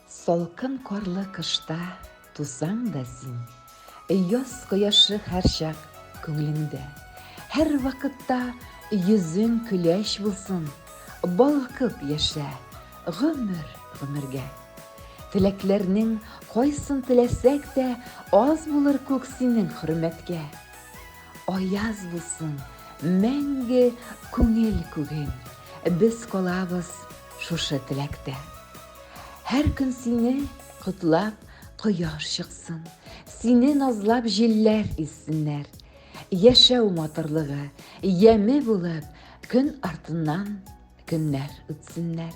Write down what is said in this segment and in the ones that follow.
Салкын карлы кышта тусаң да син, Яз кояшы һәрчак күңлеңдә. Һәрвакытта йөзең көләч булсын, Балкып яшә гомер-гомергә. Теләкләрнең кайсын теләсәк тә, Аз булыр күк синең хөрмәткә. Аяз булсын мәңге күңел күген, без калабыз шушы теләктә. Һәр көн сине котлап кояш чыксын, сине назлап җилләр иссеннәр. Яшәү матурлыгы яме булып, көн артыннан көннәр үтсеннәр.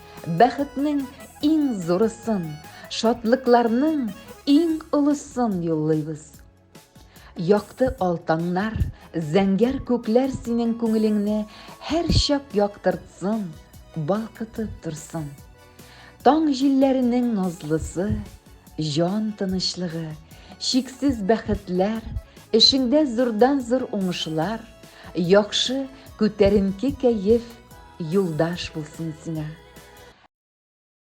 Бәхетнең иң зурысын, шатлыкларның иң олысын юллыйбыз. Якты алтаңнар, зәңгәр күкләр синең күңелеңне һәр чак яктыртсын, балкытып торсын. Таң җилләренең назлысы, Җан тынычлыгы, чиксез бәхетләр, эшеңдә зурдан-зур уңышлар, яхшы, күтәренке кәеф, юлдаш булсын сиңа.